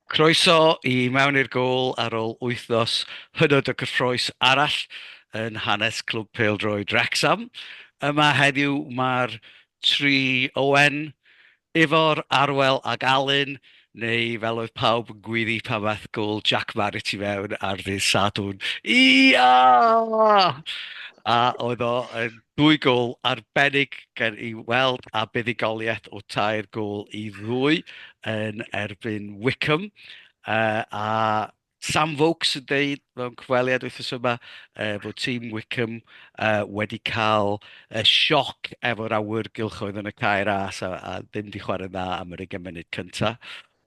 Croeso i Mewn i'r Gôl ar ôl wythnos hynod o gyffrous arall yn hanes Clwb Pêl-droed Wrecsam. Yma heddiw mae'r tri Owen, Ifor, Arwel ac Alun Neu fel oedd pawb yn gwyddu pan ddaeth gol Jack Barrett i fewn ar ddydd Sadwrn, Ia! A oedd o yn dwy gol arbennig gan i weld a buddugoliaeth o tair gol i ddwy yn erbyn Wycombe yy a Sam Vokes yn deud mewn cyfweliad wythnos yma uh, bod tîm Wickham uh, wedi cael uh, sioc efo'r awyr gylchoedd yn y cair as a, a ddim di chwarae dda am yr 20 munud cyntaf.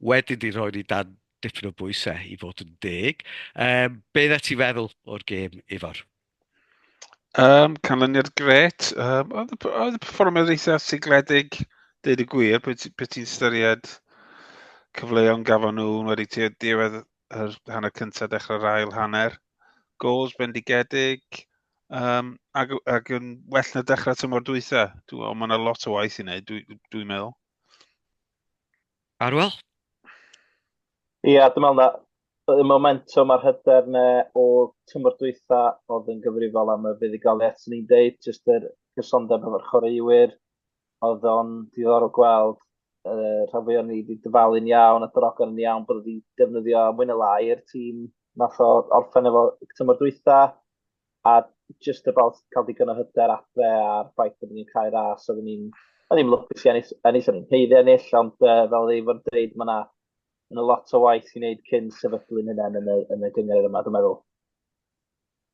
Wedyn di rhoi ni dan dipyn o bwysau i fod yn deg. Um, be ddeth ti feddwl o'r gêm, Ifor? Um, canlyniad gret. Um, oedd, y, oedd y performers eitha sigledig, dweud y gwir, beth ti, ti'n styried cyfleoedd gafon nhw wedi ti diwedd yr hanner cyntaf dechrau'r ail hanner. Goals bendigedig, um, ac, ac yn well na dechrau tymor dwytha. Dwi'n meddwl, mae yna lot o waith i wneud, dwi'n dwi, dwi meddwl. Arwel? Ie, yeah, dwi'n meddwl na y momentum a'r hyder ne o tymor dwytha oedd yn gyfrifol am y fuddugoliaeth sy'n ni'n deud, jyst yr cysondeb efo'r chwaraewyr. Oedd o'n diddorol gweld uh, rhan fwy o'n ni wedi dyfalu'n iawn a drogon yn iawn bod wedi defnyddio mwyn y lai'r tîm nath o orffen efo tymor dwytha. a just about cael digon o hyder adre a'r ffaith bod ni'n cael ras, oeddwn ni'n o'n i'n lwcus i ennill, ennill o'n i'n heiddi ennill, ond uh, fel ei fod yn dweud, mae yna yna lot o waith i wneud cyn sefydlu'n hynny yn y, yn y gyngor yma, dwi'n meddwl.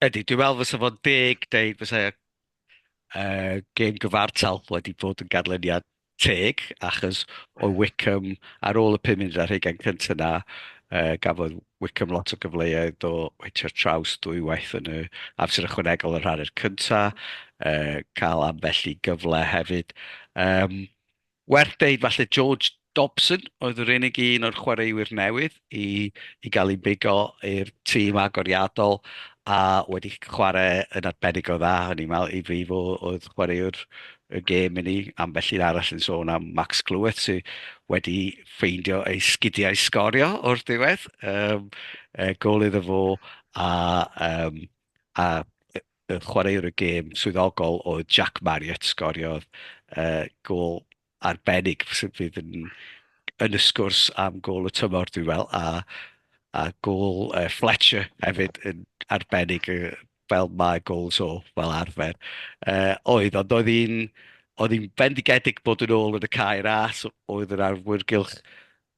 Ydy, dwi'n meddwl fysa fo'n deg deud fysa uh, gêm gyfartal wedi bod yn ganlyniad teg, achos oedd Wycombe, ar ôl y pum munud ar hugain cyntaf na, uh, gafodd Wycombe lot o gyfleoedd o weithio'r traws dwywaith yn y amser ychwanegol yr hanner cyntaf, uh, cael ambell i gyfle hefyd. Um, werth deud, falle George Dobson oedd yr unig un o'r chwaraewyr newydd i i gael ein bigo i'r tîm agoriadol a wedi chwarae yn arbennig o dda, o'n i'n meddwl i fi fo oedd chwaraewr y gêm i ni. Ambell un arall yn sôn am Max Cleworth sydd wedi ffeindio ei sgidiau sgorio o'r diwedd, um, e, gol iddo fo a, um, a y chwaraewr y gêm swyddogol oedd Jack Marriott sgoriodd uh, gol arbennig sydd fydd yn, yn y sgwrs am gol y tymor dwi'n fel, a, a gol uh, Fletcher hefyd yn arbennig uh, fel mae gols o fel arfer. Uh, oedd, ond oedd hi'n oedd hi'n bendigedig bod yn ôl yn y cair as, oedd yr arwyrgylch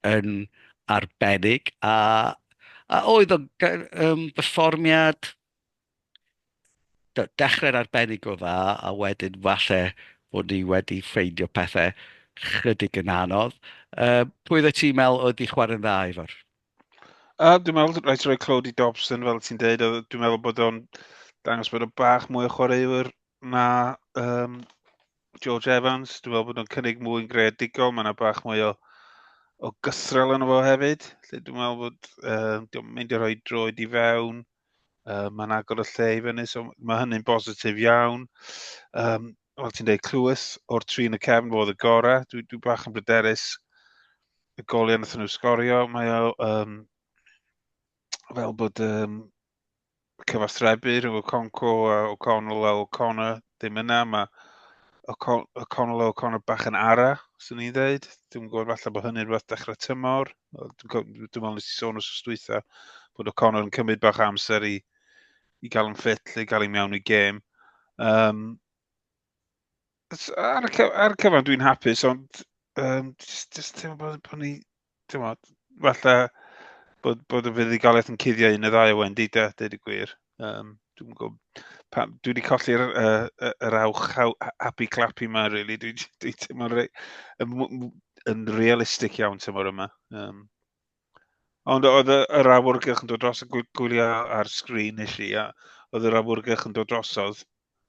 yn arbennig, a, a oedd o'n um, berfformiad Dechrau'n arbennig o dda a wedyn falle bod ni wedi ffeindio pethe chydig yn anodd. Uh, pwy oedd ti'n meddwl oedd di chwarae'n dda, Ifor? Uh, dwi'n meddwl rhaid rhoi clod i Dobson, fel ti'n deud. Dwi'n meddwl bod o'n dangos bod o'n bach mwy o chwaraewyr na um, George Evans. Dwi'n meddwl bod o'n cynnig mwy yn greadigol. Mae yna bach mwy o, o gythrel yn fo hefyd. Dwi'n meddwl bod uh, dwi'n mynd i rhoi droed i fewn. Dwi'n Uh, mae'n agor y lle i fyny, so mae hynny'n bositif iawn. Um, fel ti'n dweud, clywys o'r tri yn y cefn fod y gorau. Dwi, dwi bach yn bryderus y goliau nath nhw sgorio. Mae o um, fel bod um, cyfathrebu rhwng o Conco a O'Connell a O'Connor ddim yna. Mae O'Connell a O'Connor bach yn ara, swn i'n dweud. Dwi'n gwybod falle bod hynny'n rhywbeth dechrau tymor. Dwi'n meddwl nes i sôn os ystwytha bod o Connor yn cymryd bach amser i, i gael yn ffit lle i gael ei mewn i gêm. Um, ar, y ar y cyfan dwi'n hapus, ond um, just, just teimlo bod, bod ni, teimlo, falle bod, bod y fuddugoliaeth yn cuddio un y ddau o Wendy, de, dweud y gwir. Um, dwi'n gwybod, pam, dwi wedi colli'r uh, yr awch happy clappy yma, really. Dwi'n dwi, dwi teimlo'n re, yn realistig iawn tymor yma. Um, ond oedd yr awyrgylch yn dod dros y gwylio ar sgrin nes i, a oedd yr awyrgylch yn dod drosodd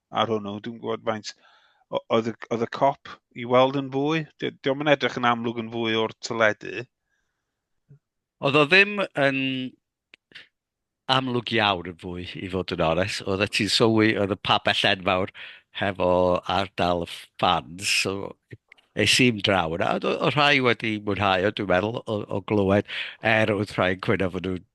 ar hwnnw. Dwi'n gwybod faint, oedd, oedd y cop i weld yn fwy? Diolch yn edrych yn amlwg yn fwy o'r tyledu. Oedd o ddim yn amlwg iawn yn fwy i fod yn ores. Oedd e ti'n sylwi, oedd y pabell enfawr hefo ardal y fans, so es i'n draw yna. Oedd o rhai wedi mwynhau o, dwi'n meddwl, o, o glywed, er oedd rhai yn cwyno fod nhw'n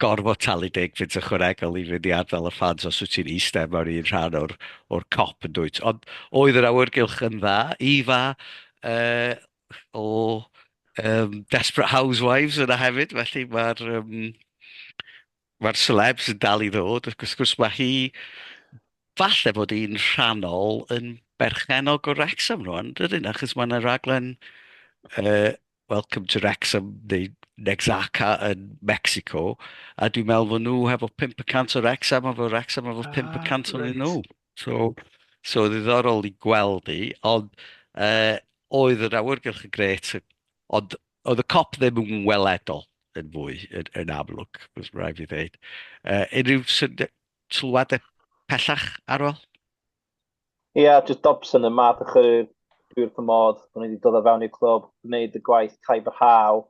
gorfod talu deg fynt ychwanegol i fynd i ardal y ffans os wyt ti'n eistedd mewn un rhan o'r, or cop yn dwyt. Ond oedd yr awyrgylch yn dda, Ifa, uh, o yym Desperate Housewives yna hefyd, felly ma'r yym ma'r celebs yn dal i ddod ac wrth gwrs ma' hi falle bod hi'n rhannol yn berchennog o Wrecsam rŵan yndydi? Achos ma' 'na raglen yy Welcome to Wrecsam neu Nexaca yn Mecsico a dwi'n meddwl fod nhw hefo pump y cant o Wrecsam a fod Wrecsam efo pump y cant ohonyn nhw. So, so ddiddorol i gweld i, ond uh, oedd yr awyrgylch yn gret, ond oedd y cop ddim yn weledol yn fwy, yn, yn amlwg, bys rhaid fi ddeud. Uh, unrhyw sylwadau pellach ar ôl? Ie, yeah, just Dobson yn math o chyrwyr dwy'r cymod, o'n i wedi dod o fewn i'r clwb, gwneud y gwaith caib yr haw.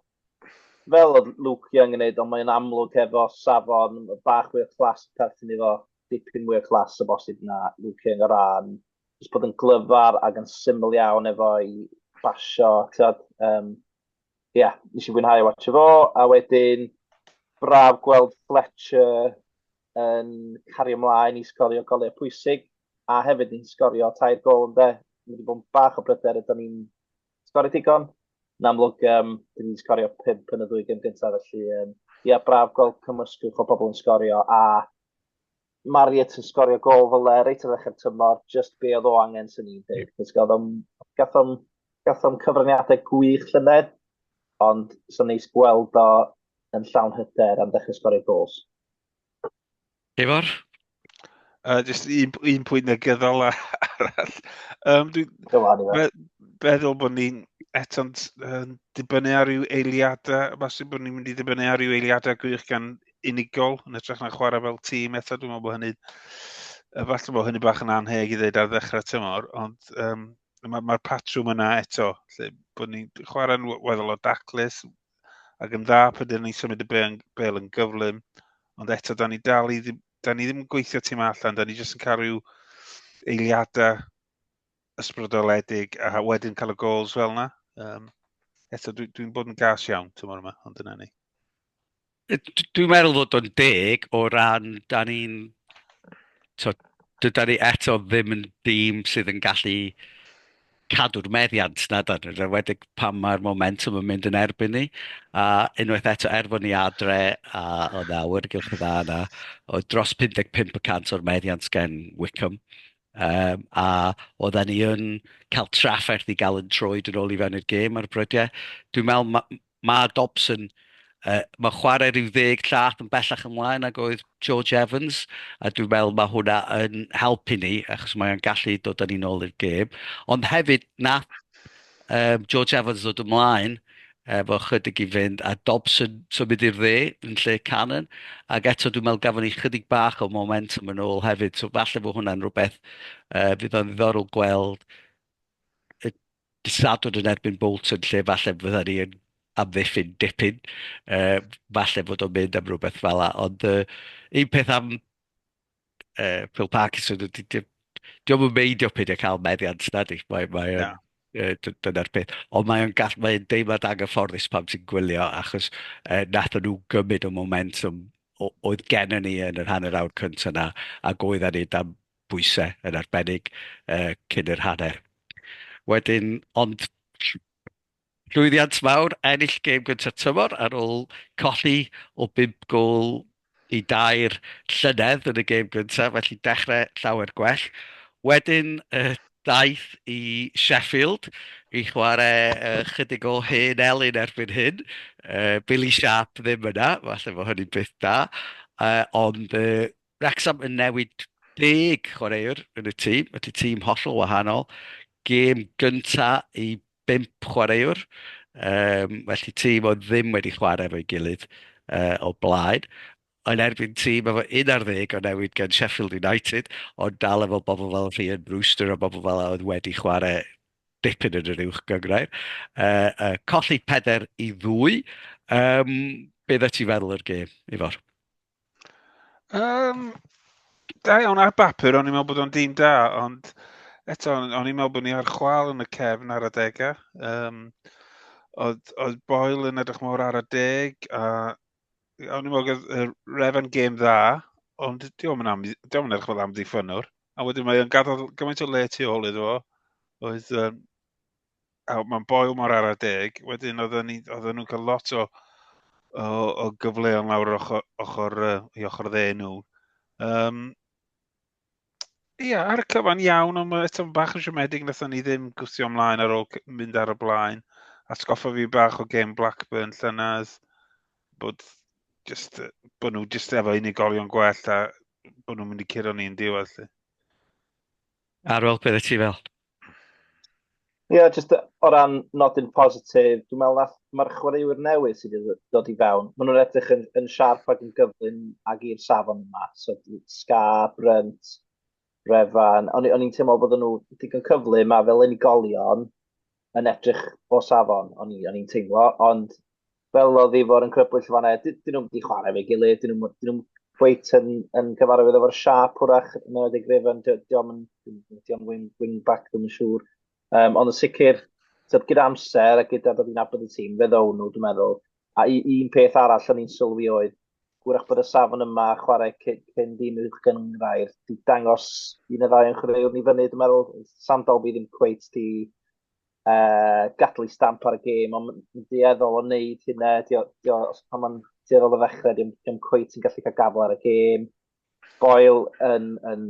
Fel oedd Luke Young yn gwneud, ond mae'n amlwg efo safon bach fwy o clas perthyn iddo. dipyn mwy o class o bosib na Luke yn y rhan, jyst bod yn glyfar ac yn syml iawn efo'i basio, tyd. Um, Ie, yeah, nes i fwynhau watch o fo, a wedyn braf gweld Fletcher yn cario ymlaen i sgorio golau pwysig, a hefyd yn sgorio tair gol yn dde. Mae wedi bod yn bach o bryder ydyn ni'n sgorio digon. Yn amlwg, um, dyn ni'n sgorio pimp yn y ddwy gym gyntaf, felly um, ia, braf gweld cymysgwch o bobl yn sgorio a Marriott yn sgorio gol fel le reit ar ddechrau'r tymor, just be oedd o angen sy'n ni'n dweud. Cos gathom, gathom, gathom cyfraniadau gwych llynedd, ond sy'n neis gweld o yn llawn hyder am ddechrau sgorio gols. Ifor? Uh, just un, un pwynt na gyddol arall. Um, dwi, Dyma, meddwl bod ni'n eto'n uh, dibynnu ar ryw eiliadau, falle bod ni'n mynd i ddibynnu ar ryw eiliadau gwych gan unigol yn ytrach na chwarae fel tîm eto. Dwi'n meddwl bod hynny, efallai bod hynny bach yn anheg i ddeud ar ddechrau tymor, ond um, mae'r ma patrwm yna eto, lle bod ni'n chwarae'n weddol o daclus ac yn dda pan dyn ni'n symud y bel, bel yn gyflym, ond eto, da ni dal i ddim, da ni ddim yn gweithio tîm allan, da ni jyst yn cael rhyw eiliadau ysbrydoledig a wedyn cael y gols fel yna. Um, eto, dwi'n dwi bod yn gas iawn tymor yma, ond dyna ni. Dwi'n meddwl fod o'n deg o ran da ni'n tibod dyda ni eto ddim yn dîm sydd yn gallu cadw'r meddiant na dan ni, enwedig pan mae'r momentum yn mynd yn erbyn ni. A unwaith eto, er bod ni adre a o nawr y gylch y dda yna, o dros 55 y cant o'r meddiant gen Wickham. Um, a oedden ni yn cael trafferth i gael yn troed yn ôl i fewn i'r gêm ar y brydau. Dwi'n meddwl Mae Dobson, yy, mae'n chwarae rhyw ddeg llath yn bellach ymlaen nag oedd George Evans, a dwi'n meddwl mae hwnna yn helpu ni, achos mae'n gallu dod â ni'n ôl i'r gêm. Ond hefyd, na, um, George Evans ddod ymlaen, efo chydig i fynd, a Dobson symud i'r dde yn lle Cannon, ac eto dwi'n meddwl gafon ni chydig bach o momentum yn ôl hefyd, so falle fo hwnna'n rhywbeth uh, fydd o'n ddiddorol gweld Sadwrn yn erbyn Bolton lle falle fydda ni yn amddiffyn dipyn. Uh, falle fod o'n mynd am rhywbeth fel la. Ond uh, un peth am uh, Phil Parkinson, di, di, di o'n meidio pyd e cael meddiant na di. Mae, mae, yeah. uh, dyna'r peth. Ond mae'n gall, mae'n deimlad anghyfforddus pam ti'n gwylio, achos uh, nath nhw gymryd o momentum oedd gennym ni yn yr hanner awr cyntaf yna, ac oedden ni dan bwysau yn arbennig cyn yr hanner wedyn ond llwyddiant mawr ennill gêm gynta'r tymor ar ôl colli o 5 gôl i 2 llynedd yn y gêm gyntaf felly dechrau llawer gwell. Wedyn daeth i Sheffield i chwarae chydig o hen elyn erbyn hyn, Billy Sharp ddim yna, falle bod hynny'n beth da ond Wrecsam yn newid deg chwaraewr yn y tîm, felly tîm hollol wahanol. Gêm gynta i bump chwaraewr, um, felly tîm oedd ddim wedi chwarae efo'i gilydd uh, o blaen yn erbyn tîm efo 11 o newid gan Sheffield United, ond dal efo bobl fel Rhian Brewster a bobl fel oedd wedi chwarae dipyn yn yr uwch gyngrair. Uh, uh, colli peder i ddwy, um, beth y ti feddwl o'r gêm, Ifor? Um, da iawn ar bapur, o'n i'n meddwl bod o'n dîm da, ond eto, o'n i'n meddwl bod ni ar chwal yn y cefn ar adegau. Um, oedd, oedd Boyle yn edrych mor ar y deg, a o'n i'n meddwl y Revan game dda, ond diolch yn, am, diolch yn edrych fel amddiffynwr. A wedyn mae o'n gadael gymaint o le tu ôl iddo fo, oedd um, a mae'n boel mor ara deg. Wedyn oedden ni oedden nhw'n cael lot o o o gyfleon lawr yr ochr ochr yy i ochr dde nhw. Yym ia ar y cyfan iawn ond ma' eto'n bach yn siomedig nathon ni ddim gwthio ymlaen ar ôl mynd ar y blaen. Atgoffa fi bach o gêm Blackburn llynedd bod jyst yy bo' nhw jyst efo unigolion gwell a bo' nhw'n mynd i curo ni'n diwedd 'lly. Ar ôl be' wyt ti fel? Ie, yeah, jyst o ran nodyn positif, dwi'n meddwl na mae'r chwaraewyr newydd sydd wedi dod i fewn, maen nhw'n edrych yn, yn siarp ac yn gyflym ag i'r safon yma. So, Sga, Brynt, Refan, o'n i'n teimlo bod nhw digon cyflym a fel unigolion yn edrych o safon, o'n i'n teimlo, ond fel oedd i fod yn crybwyll fan e. Dyn nhw'n wedi chwarae fe gilydd, dyn nhw'n nhw cweit yn, yn cyfarwydd efo'r siap hwrach yn oedd ei grefyn, diolch yn diolch wing, wing back ddim yn siŵr. Um, ond yn sicr, tyd, gyda amser a gyda bod i'n abod y tîm, fe ddown nhw, dwi'n meddwl. A un peth arall o'n i'n sylwi oedd, gwrach bod y safon yma chwarae cyn dîm uwch gyngrair, di dangos un y ddau yn chwaraewr ni fyny, dwi'n meddwl, Sam Dolby ddim cweit di uh, gadlu stamp ar y gêm, ond yn dueddol o wneud hynna, di o, di o, os pan mae'n dueddol o ddechrau, dim, dim cwyt yn gallu cael gafel ar y gêm. Boel yn, yn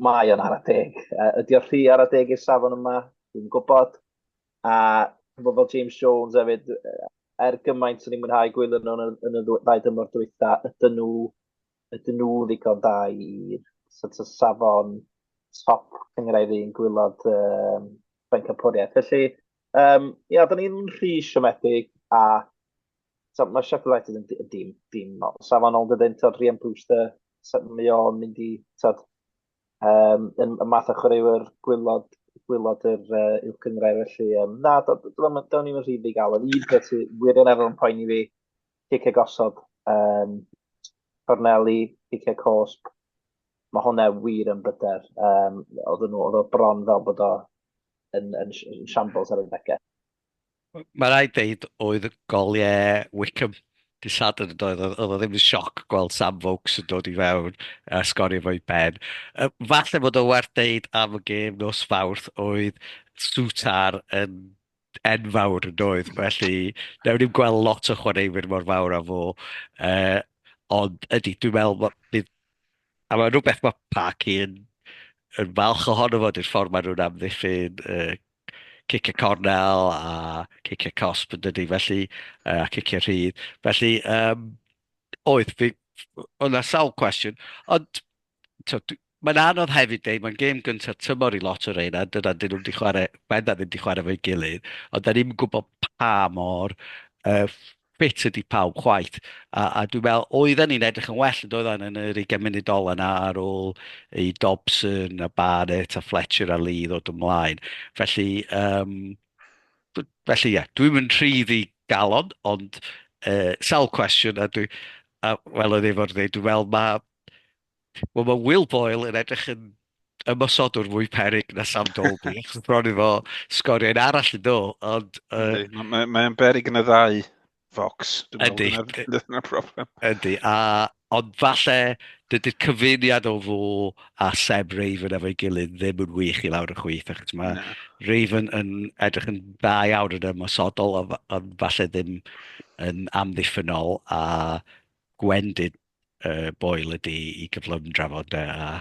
mae o'n ar y deg. Uh, ydy o'r rhy ar y deg i'r safon yma, dwi'n gwybod. A bod fel James Jones hefyd, er gymaint o'n i'n mwynhau gwylio nhw yn, yn y ddau dymor dwytha, ydyn nhw, ydyn nhw ddigon da i'r sort of safon top cyngraidd i'n gwylod um, bencampwriaeth. Felly, um, ia, da ni'n rhy siomedig a so, mae Sheffield United yn dîm, dîm, dîm no, safonol dydyn, tod, Rhian Brewster, mae o'n mynd i, tod, um, yn, y math o chwaraewyr gwylod, gwylod yr uh, uwch gyngrair, felly, um, na, da ni'n rhy ddigalon. Un peth sy'n wirioneddol yn poeni fi, Pique gosod, um, corneli, pique cosp. Mae hwnna wir yn bryder. Um, oedd nhw, oedd o bron fel bod o yn, yn, yn shambles ar y degau. Mae rhaid deud oedd goliau Wickham di Sadwrn yn oedd, oedd o ddim yn sioc gweld Sam Vokes yn dod i fewn a uh, sgorio fo'i ben. Uh, falle bod o werth deud am y gêm nos fawrth oedd Sutar yn enfawr yn doedd, felly newn ni'n gweld lot o chwaraewyr mor fawr â fo. Uh, ond ydy, dwi'n meddwl bod... Bydd, a mae'n rhywbeth mae Park yn, yn falch ohono fo, dy'r ffordd maen nhw'n amddiffyn uh, cic y cornel a cic y cosp yn dydy, felly, uh, a cic y rhydd. Felly, um, oedd, fi, o'na sawl cwestiwn, ond tibod, mae'n anodd hefyd dweud, mae'n gêm gyntaf tymor i lot o reina, dyna dyn nhw wedi chwarae, benda ddim wedi chwarae fo'i gilydd, ond da ni'n gwybod pa mor uh, ffit ydy pawb chwaith. A, a dwi'n meddwl, oedden ni'n edrych yn well yn doedden yn yr 20 munud ol yna ar ôl i Dobson a Barrett a Fletcher a Lee ddod ymlaen. Felly, um, felly ie, yeah, dwi'n mynd rhydd i galon, ond uh, sawl cwestiwn a dwi, a, fel oedd efo'r dweud, dwi'n meddwl mae Wel, mae Will Boyle yn edrych yn ymosodwr mwy perig na Sam Dolby, achos bron i fo sgoriau'n arall yn do, ond... Uh, Mae'n mae, berig yn y ddau fox. Ydy. Dyna problem. Ydy, a, ond falle dydy'r cyfuniad o fo a Seb Raven efo'i gilydd ddim yn wych i lawr y chwyth, achos mae no. Raven yn edrych yn dda iawn yn ymosodol, ond falle ddim yn amddiffynol, a Gwendid uh, boel ydy i gyflym drafod de, a...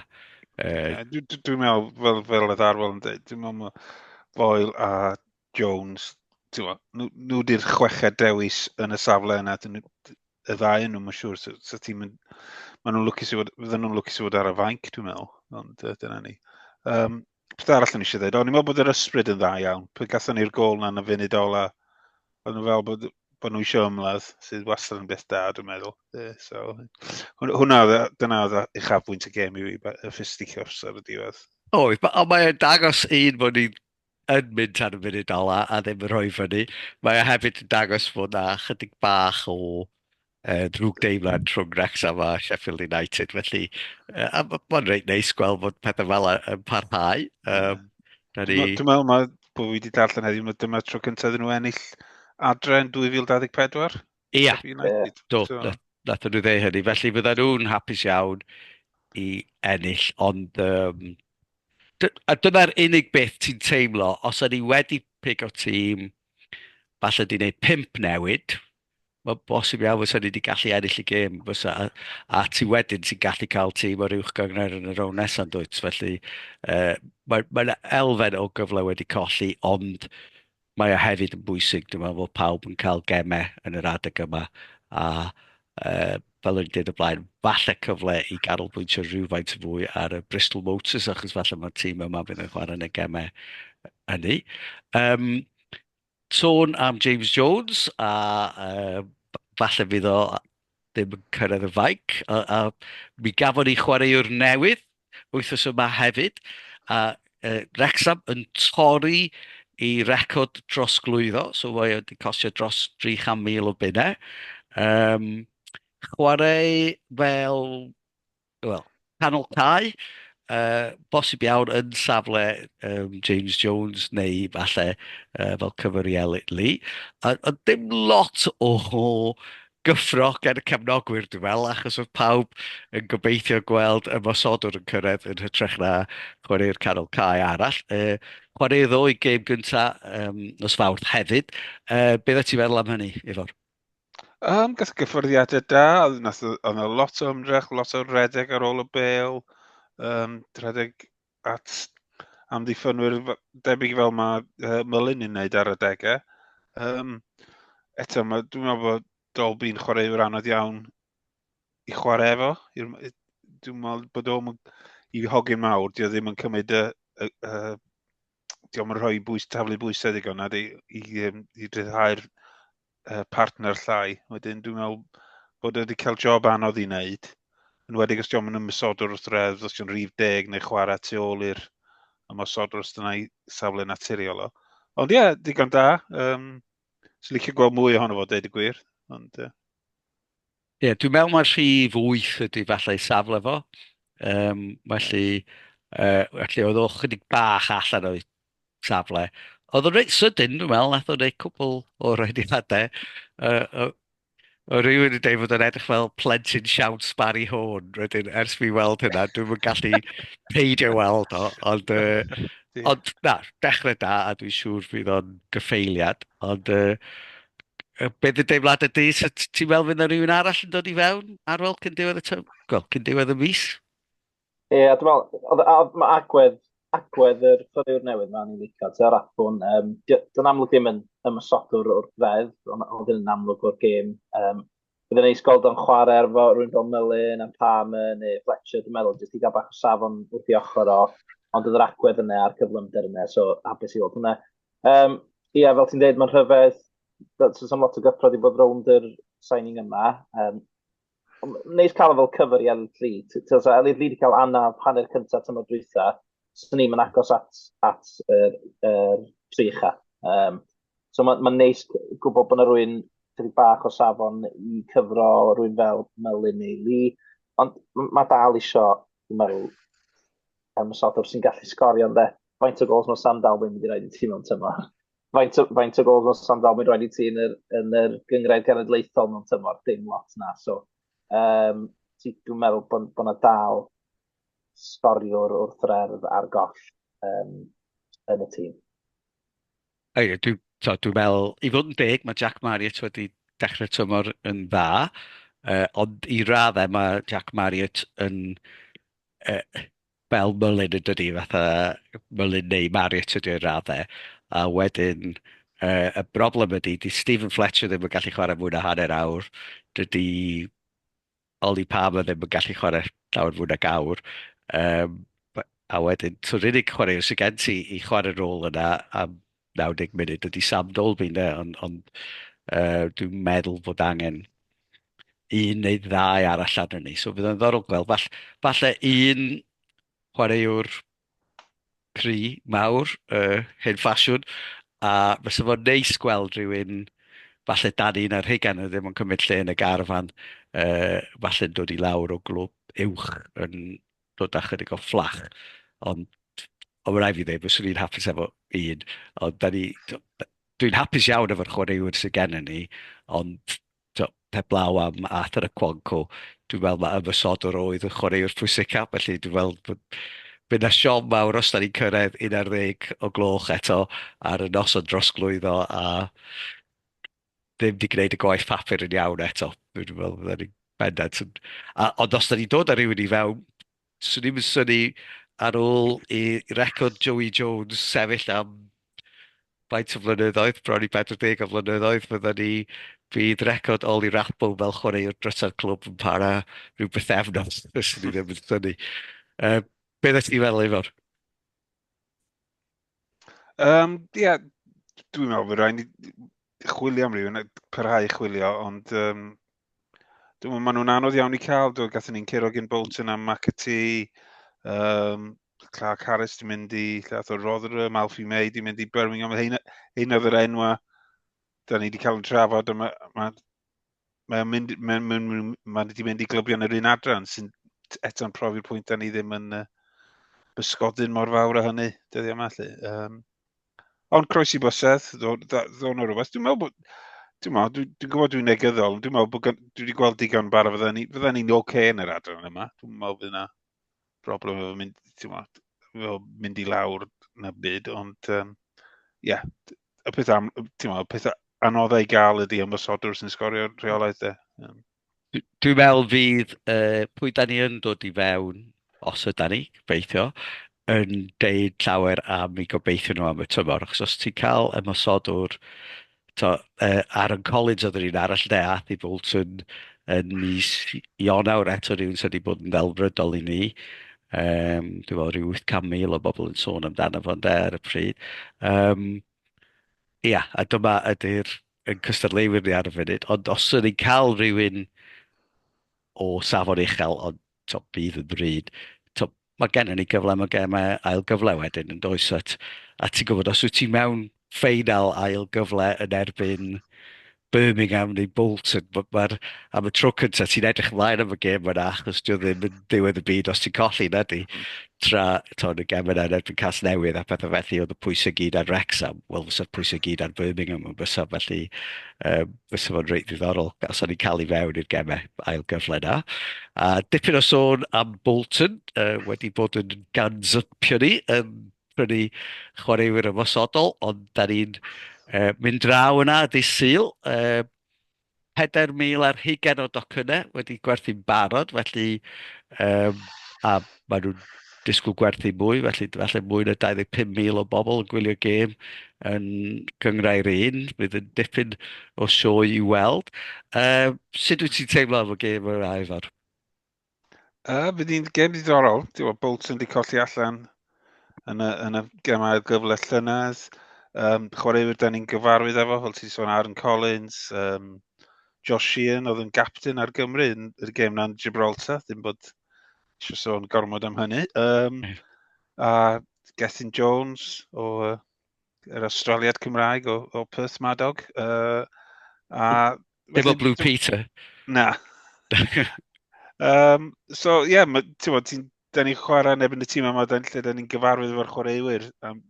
Uh... Dwi'n dwi, dwi meddwl, fel, fel oedd Arwel yn dweud, dwi'n meddwl mae Boyle a Jones, nhw, nhw di'r chweched dewis yn y safle yna, dyn nhw, y ddau yn nhw, mae'n siŵr, so, so ti'n mynd, maen nhw'n lwcus i fod, fydden nhw'n lwcus i fod ar y fainc, dwi'n meddwl, ond uh, dyna ni. Um, Beth arall o'n eisiau dweud? O'n i'n meddwl bod yr ysbryd yn dda iawn. Pwy gatho ni'r gol na'n y funud ola. O'n nhw fel bod, bod nhw eisiau ymladd, sydd wastad yn beth da, dwi'n meddwl. Yeah, so, hwnna, dyna oedd i chafbwynt y gêm i fi, y fisticuffs ar y diwedd. O, ond mae'n dangos un bod ni'n yn mynd ar y funud ola a ddim yn rhoi fyny. Mae e hefyd yn dangos bod na chydig bach o Yy drwg deimlad rhwng Wrecsam a Sheffield United felly yy a ma' ma'n reit neis gweld bod pethe fel 'a yn parhau yym 'dan ni... Dwi'n meddwl ma' bo' fi 'di darllen heddiw ma' dyma'r tro cynta iddyn nhw ennill adre yn 2024. Ia. United. Do. So... Nath nhw ddeu hynny felly fyddan nhw'n hapus iawn i ennill ond yym dy- a dyna'r unig beth ti'n teimlo os o'n ni wedi pigo tîm falle 'di neud pump newid Mae'n bosib iawn fysa ni wedi gallu ennill y gêm, fysa. A, a ti wedyn sy'n gallu cael tîm o'r uwch gangner yn y rown nesaf yn dwyt. Felly, uh, mae, mae yna elfen o gyfle wedi colli, ond mae o hefyd yn bwysig. Dwi'n meddwl bod pawb yn cael gemau yn yr adeg yma. A uh, fel o'n i'n dweud o blaen, falle cyfle i ganolbwyntio rhywfaint fwy ar y Bristol Motors, achos falle mae'r tîm yma fydd yn chwarae yn y gemau hynny. Um, Sôn am James Jones a uh, falle fydd o ddim yn cyrraedd y faic. A, a mi gafon ni chwaraewr newydd wythnos yma hefyd. A uh, Rexham yn torri i record dros glwyddo, so mae wedi costio dros 300,000 o bunnau. Um, chwarae fel wel, canol cae, uh, bosib iawn yn safle um, James Jones neu falle uh, fel cyfer i Elliot Lee. A, a dim lot o gyffro gan y cefnogwyr, dwi'n fel, achos oedd pawb yn gobeithio gweld y mosodwr yn cyrraedd yn hytrach na chwarae'r canol cae arall. E, chwaraeodd o'i gêm gyntaf um, nos fawrth hefyd. E, beth ti feddwl am hynny, Ifor? Um, gas gyffyrddiadau da, oedd yna lot o ymdrech, lot o redeg ar ôl y bel, um, redeg at amddiffynwyr debyg fel mae uh, Mylun yn wneud ar y degau. Um, eto, mae, dwi'n meddwl bod Dolby'n chwarae yw'r anodd iawn i chwarae efo. Dwi'n meddwl bod o'n i hogyn mawr, di o ddim yn cymryd y, y, y diolch yn rhoi bwys, taflu bwysau ddigon nad i, i, i, i dryddhau'r uh, partner llai. Wedyn dwi'n meddwl bod wedi cael job anodd i wneud, yn wedi os diolch yn ymwysodwr wrth redd, os diolch rhif deg neu chwarae tu ôl i'r ymwysodwr os dyna'i safle naturiol o. Ond ie, yeah, digon da. Um, Swn licio gweld mwy ohono fo, dweud y gwir. Ond, uh... Ie, dwi'n meddwl mae rhif 8 ydy falle ei safle fo. Um, felly, uh, felly oedd o chydig bach allan o'i safle. Oedd o'n reit sydyn, dwi'n meddwl, nath o'n ei cwbl o rhaediadau. Uh, o rhywun yn dweud fod o'n edrych fel plentyn siawns Barry Horn. Rydyn, ers fi weld hynna, dwi'n mynd gallu peidio weld o, ond, uh, ond na, dechrau da, a dwi'n siŵr fydd o'n gyffeiliad, ond uh, Be fydd deimlad y dydd? So t- ti'n meddwl fydd yna rhywun arall yn dod i fewn, Arwel, cyn diwedd y tym? Wel, cyn diwedd y mis? Ie, a dwi'n meddwl, oedd- a- oedd- mae agwedd, agwedd yr chwaraewr newydd ma'n i'n licio, ti'n raffwn, um, dwi'n amlwg ddim yn ymwysodwr o'r ddeddf, ond oedd yn amlwg o'r gêm, um, Bydd yn neis gweld o'n chwarae ar fo, rwy'n fel Mullin a Palmer neu Fletcher, dwi'n meddwl, jyst i gael bach o safon wrth i ochr o, ond oedd yr agwedd yna a'r cyflymder yna, so hapus i weld hwnna. Um, ia, fel ti'n dweud, mae'n rhyfedd, so sy'n lot o gyffrodd i bod rownd yr signing yma. Um, neis cael fel cyfer i Elid Lee. Ti'n so, Elid Lee wedi cael anna hanner cyntaf tymor drwytha, sy'n ni'n agos at, at yr, er, tri ucha. Um, So mae'n ma neis gwybod bod yna rwy'n chydig bach o safon i cyfro rwy'n fel Melin neu Li, ond mae dal isio, dwi'n meddwl, am y sodwr sy'n gallu sgorio, dde. Faint o gols mae Sam Dalwyn wedi rhaid i ti mewn tymor? Faint o, faint o gols mae Sam Dalwyn wedi rhaid i ti yn yr, yn yr gyngrair genedlaethol mewn tymor? Dim lot na, so um, dwi'n meddwl bod, bod yna dal sgoriwr wrth rerdd ar goll um, yn y tîm. Ie, dwi'n t'o', dwi'n meddwl, i fod yn deg, ma' Jack Marriott wedi dechrau'r tymor yn dda, yy, ond i raddau ma' Jack Marriott yn yy, fel Mullin yn dydi, fatha Mullin neu Marriott ydi o i raddau, a wedyn yy, y broblem ydi, 'di Stephen Fletcher ddim yn gallu chwarae mwy na hanner awr, dydi Oli pam oedd e ddim yn gallu chwarae llawer fwy nag awr. Um, a wedyn, so yr unig chwarae sy'n gen ti i chwarae rôl yna am 90 munud ydy Sam Dolby, ne? ond on, uh, dwi'n meddwl bod angen un neu ddau arall arnyn ni. So bydd yn ddorol gweld, falle un chwaraewr cry mawr y hen ffasiwn a fysa fo'n neis gweld rhywun falle dan un ar hugain yn ddim yn cymryd lle yn y garfan uh, falle'n dod i lawr o glwb uwch yn dod â chydig o fflach ond ond mae rai fi ddweud fyswn i'n hapus efo un ond da ni dwi'n hapus iawn efo'r chwaraewyr sydd gennym ni ond tibod, heblaw am Arthur y Cwanco, dwi'n meddwl mae ymosodwr oedd yn chwaraewr pwysicaf, felly dwi'n meddwl bod bydd 'na siom mawr os da ni'n cyrraedd 11 o gloch eto ar y nos o drosglwyddo a ddim 'di gwneud y gwaith papur yn iawn eto. Dwi'n meddwl fyddan ni'n bendant yn... A, ond os da ni'n dod â rhywun i fewn, 'swn i'm yn synnu ar ôl i record Joey Jones sefyll am faint o flynyddoedd, bron i 40 o flynyddoedd, fyddan ni... bydd record Ollie Rathbone fel chwaraewr drysa'r clwb yn para rhyw bythefnos, 'swn i ddim yn synnu. Yy, be oeddet ti'n meddwl, Ifor? Yym, ie, dwi'n meddwl bod rhaid ni chwilio am rhywun, parhau i chwilio, ond um, dwi'n meddwl, maen nhw'n anodd iawn i cael, dwi'n gathen ni'n curo gyn Bolton am McAtee, um, Clark Harris di mynd i Llath o'r Rotherham, Alfie May di mynd i Birmingham, hyn oedd yr enwa da ni wedi cael yn trafod, a mae ma, mae'n mynd, mae'n mynd, mae'n mynd, mynd, mynd i glybion yr un adran sy'n eto'n profi'r pwynt da ni ddim yn uh, bysgodyn mor fawr a hynny, dyddiau yma lle. Um, ond croes i bysedd, ddo'n o'r rhywbeth. Dwi'n meddwl bod, dwi'n meddwl, dwi'n dwi gwybod dwi'n negyddol, dwi'n meddwl bod, dwi wedi gweld digon bar a fydda ni'n ni, ni oce okay yn yr adran yma. Dwi'n meddwl bod yna broblem efo mynd, ti'n meddwl, mynd i lawr na byd, ond, um, ie, yeah, y peth am, ti'n meddwl, peth anoddau i gael ydy ymwysodwr sy'n sgorio rheolaeth e. Dwi'n meddwl fydd uh, pwy da ni yn dod i fewn, os yda ni, gobeithio, yn deud llawer am i gobeithio nhw am y tymor. Achos os ti'n cael ymwysodwr to, uh, Aaron Collins oedd yr un arall de, Athy Bolton yn mis Ionawr eto rhywun sydd wedi bod yn ddelfrydol i ni. Um, dwi'n meddwl rhyw 800,000 o bobl yn sôn amdano fo ynde ar y pryd. Um, ia, a dyma ydy'r yn cystadleuwyr ni ar y funud, ond os ydy ni'n cael rhywun o safon uchel, ond to, bydd yn bryd, to, mae gennym ni gyfle, mae gennym ni ail gyfle wedyn yn does, at, a ti'n gwybod, os wyt ti mewn ffeinal ail gyfle yn erbyn Birmingham neu Bolton. Mae'r, am y tro cyntaf, ti'n edrych ymlaen am y gêm yna, achos dio ddim yn diwedd y byd os ti'n colli, na di. Mm. Tra, to, yn y gem yna yn erbyn Cas Newydd a pethau felly, oedd y pwysau gyd ar Rexham. Wel, fysa'r pwysau gyd ar Birmingham yn fysa, felly um, fysa fo'n reit ddiddorol. Os o'n i'n cael ei fewn i'r gemau ail gyfle yna. A dipyn o sôn am Bolton, uh, wedi bod yn ganzypio ni yn prynu chwaraewyr ymosodol, ond da ni'n uh, mynd draw yna dy syl. Uh, 4,000 ar hugen o docynnau wedi gwerthu'n barod, felly um, a maen nhw'n disgwyl gwerthu mwy, felly falle mwy na 25,000 o bobl yn gwylio gêm yn gyngrau'r un, bydd yn dipyn o sioe i weld. Uh, sut wyt ti'n teimlo am y gêm yr aifar? Uh, bydd hi'n gem ddiddorol. Diwa, Bolton wedi colli allan yn y, yn y gem ail gyfle llynedd. Um, chwaraewyr da ni'n gyfarwydd efo, fel ti'n sôn Aaron Collins, um, Josh Sheehan oedd yn gapten ar Gymru yn y gem na'n Gibraltar, ddim bod eisiau sôn gormod am hynny. Um, a Gethin Jones o uh, yr Australiad Cymraeg o, o Perth Madog. Uh, a Dim o Blue Peter. Na. um, so, ie, yeah, ti'n da ni'n chwarae yn ebyn y tîm yma, da, lle da ni'n gyfarwydd efo'r chwaraewyr am,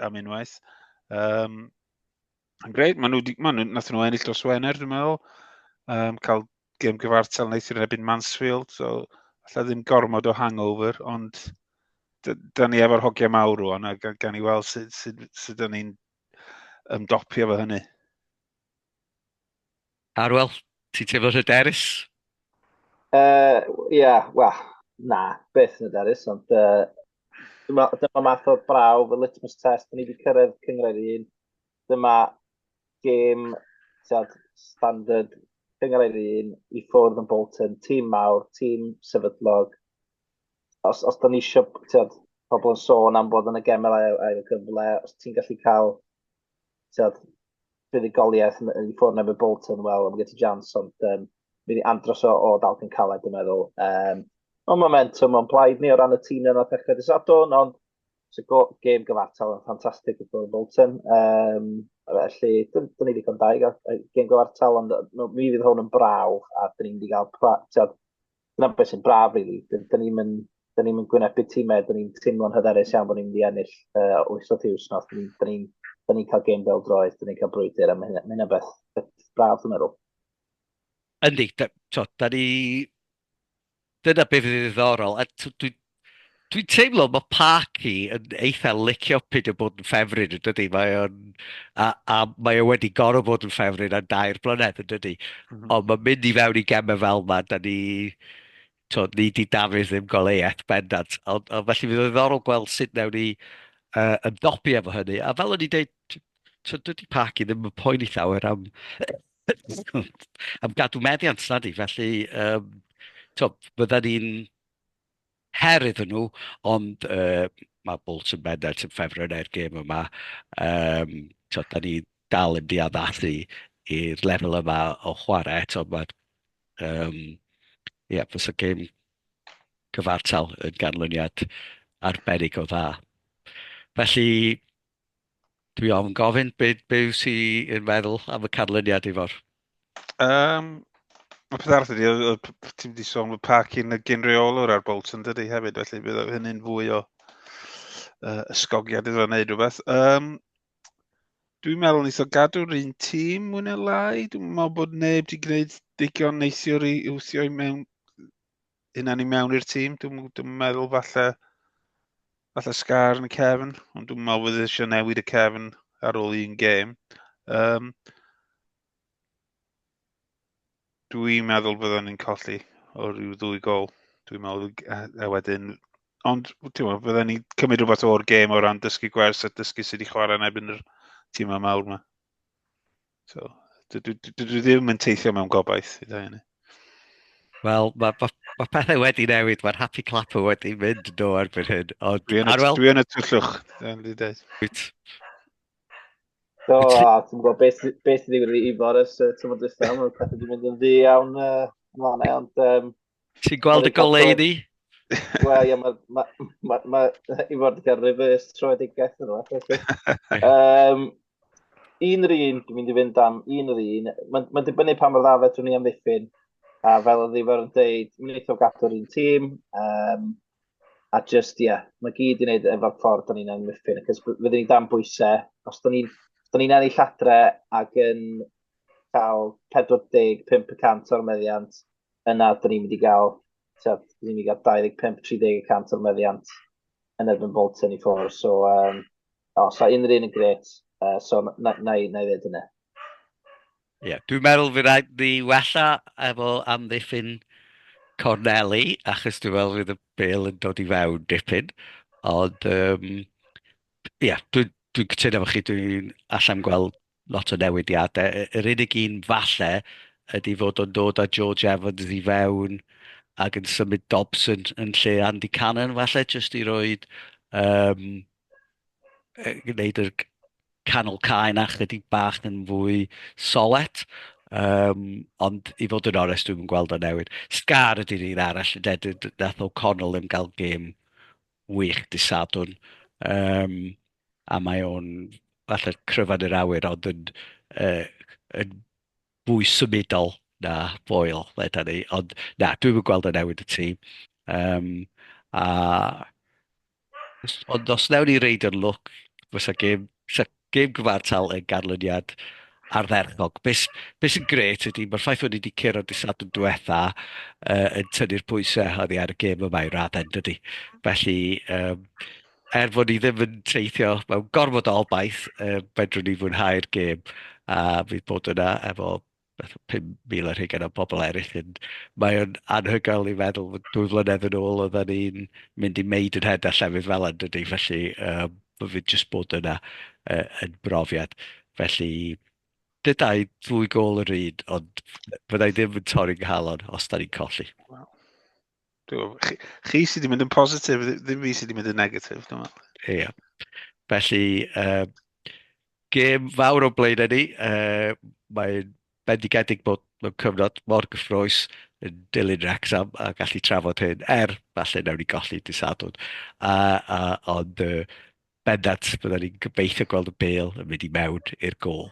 am unwaith. Um, Greit, maen nhw, di, maen nhw, nath nhw ennill dros Wener, dwi'n meddwl. Um, cael gym gyfartal wnaeth i'r ebyn Mansfield, so allai ddim gormod o hangover, ond da ni efo'r hogiau mawr rwan, a gan, gan i weld sut, sut, sut da ni'n ymdopio fo hynny. Arwel, ti'n teimlo hyderus? Uh, Ie, yeah, wel, na, beth yn hyderus, ond uh, dyma, dyma math o braw fy litmus test, ni wedi cyrraedd cyngred i un, dyma gêm tiad, standard cyngred i un i ffwrdd yn Bolton, tîm mawr, tîm sefydlog, os, os da ni eisiau, tiad, pobl yn sôn am bod yn y gemau ail gyfle, os ti'n gallu cael tyd, fuddugoliaeth yn, yn ffwrn efo Bolton, wel, am gyda jans, ond um, mynd i andros o, o dalcyn caled, dwi'n meddwl. Um, ond momentum o'n blaid ni o ran y tîm yna ddechrau dy sadwn, ond sy'n go, gêm gyfartal yn ffantastig i ffwrn Bolton. Um, felly, dyn, dyn ni ddigon daig ar gêm gyfartal, ond mi fydd hwn yn braw, a dyn ni'n mynd i gael pra, tyd, dyna beth sy'n braf, really. Dyn ni'n mynd da ni'n mynd gwynebu tîmau, da ni'n teimlo'n hyderus iawn bod ni'n mynd i ennill uh, wythnos i wythnos. Da ni'n da ni cael gêm fel droed, da ni'n cael brwydr, a mae hynna beth, beth braf, dwi'n meddwl. Yndi, da, to, da ni... Dyna beth fydd ddiddorol, a dwi, Dwi'n teimlo mae Parky yn eitha licio pyd o bod yn ffefryn, yn dydy? Mae o'n... A, a mae o wedi gorau bod yn ffefryn ar dair blynedd, yn dydy? Mm -hmm. Ond mae'n mynd i fewn i gemau fel yma, da ni... To, ni di Dafydd ddim goleiaeth bendant. Ond, ond felly fydd o ddiddorol gweld sut newn ni uh, yn dopi efo hynny. A fel o'n i'n deud, to, dydy Parky ddim yn poeni llawer am, am gadw meddiant, na di? Felly, um, to, bydda ni'n her iddyn nhw, ond uh, mae Bolts yn bendant yn ffefryn neu'r er gêm yma. Um, so, da ni dal yn diaddathu i'r lefel yma o chwarae eto. Mae, um, yeah, fes y gêm cyfartal yn ganlyniad arbennig o dda. Felly, Dwi ofn gofyn be, be yw si yn meddwl am y canlyniad i fawr. Um, mae peth arall ydy, ti'n wedi sôn bod parc yn y gynreolwr ar Bolton dydy hefyd, felly bydd hynny'n fwy o uh, ysgogiad iddo wneud rhywbeth. Um, dwi'n meddwl nes o gadw'r un tîm mwyn y lai. Dwi'n meddwl bod neb wedi gwneud digon neithiwr i wthio i mewn hynna ni mewn i'r tîm. Dwi'n dwi meddwl falle, falle sgar yn y cefn, ond dwi'n meddwl fydd eisiau newid y cefn ar ôl un gêm. Um, dwi'n meddwl byddwn ni'n colli o ryw ddwy gol. Dwi'n meddwl, a, a wedyn... Ond, ti'n meddwl, byddwn ni'n cymryd rhywbeth o'r gêm o ran dysgu gwers a dysgu sydd wedi chwarae yn ebyn yr tîm yma mawr yma. So, dwi, dwi, dwi ddim yn teithio mewn gobaith i ddau hynny. Wel, mae ma, ma pethau wedi newid, mae'r happy clapper wedi mynd do erbyn hyn. Ond, dwi yn y, dwi yn y tyllwch, dwi'n di dweud. Wyt. Do, a ti'n gwybod beth sy'n digwydd i Boris, ti'n gwybod dwi'n meddwl, pethau wedi mynd yn ddi iawn, uh, ond um, Ti'n gweld y goleudy? Wel, ie, mae... Ma, ma, ma, I fod yn gael reverse troedigaeth yn yma. um, un yr un, dwi'n mynd i fynd am un yr un. Mae'n ma dibynnu pa mor dda fedrwn ni amddiffyn. A fel oedd Ifor yn dweud, mae'n eitha gadw'r un tîm. Um, a just, ie, yeah, mae gyd i wneud efo'r ffordd o'n i'n amddiffyn. Cos fydden ni dan bwysau. Os da ni'n ni ennill adre ac yn cael 45% o'r meddiant, yna dyn ni'n mynd i gael, tyd, dyn ni'n mynd i gael 25-30 y cant o'r meddiant yn erbyn Bolton i ffwrdd. So, um, o, so unrhyw un yn gret, uh, so na, na, i, na i ddweud hynny. Ie, yeah, dwi'n meddwl fi rhaid ni wella efo amddiffyn Corneli, achos dwi'n meddwl fydd y bel yn dod i fewn dipyn. Ond, ie, um, yeah, dwi'n dwi cytuno efo chi, dwi'n allan gweld lot o newidiadau. Y- Yr unig un falle ydy fod o'n dod â George Evans i fewn ac yn symud Dobson yn lle Andy Cannon falle, jyst i roed um, gwneud yr canol cae na chlydig bach yn fwy solet. Um, ond i fod yn orest, dwi'n gweld o newid. Scar ydy'r un arall, de, d- d- nath O'Connell ddim gael gêm wych disadwn. Um, a mae o'n falle cryfad yr awyr ond yn, uh, yn fwy symudol na foel, leda ni. Ond na, dwi'n mynd gweld y newid y tîm. Um, a, ond os newn ni reid yn lwc, fysa gêm, fysa gêm gyfartal yn ganlyniad ardderchog. Beth be sy'n gret ydy, mae'r ffaith wedi wedi cyrraedd dysad yn diwetha uh, yn tynnu'r pwysau oddi ar y gêm yma i raddau, dydy. Felly, um, er bod ni ddim yn teithio mewn gorfod o obaith, uh, fedrwn ni fwynhau'r gêm a fydd bod yna efo 5,000 ar hugain o bobl eraill. Yn, mae o'n anhygoel i feddwl fod dwy flynedd yn ôl oedden ni'n mynd i meid yn hed a llefydd fel yn dydy, felly um, fydd jyst bod yna uh, yn brofiad. Felly, dydau ddwy gol yr un, ond fyddai ddim yn torri nghalon os da ni'n colli. Wow. Chi, chi sydd wedi mynd yn positif, ddim fi sydd wedi mynd yn negatif, dwi'n meddwl. Ie. Yeah. Felly, uh, gêm fawr o blaen ni. Uh, Mae'n bendigedig bod mewn cyfnod mor gyffroes yn dilyn Wrexham a gallu trafod hyn, er falle newn ni golli disadwn. Uh, uh, ond uh, bendant, byddwn ni'n gobeithio gweld y bel yn mynd i mewn i'r gol.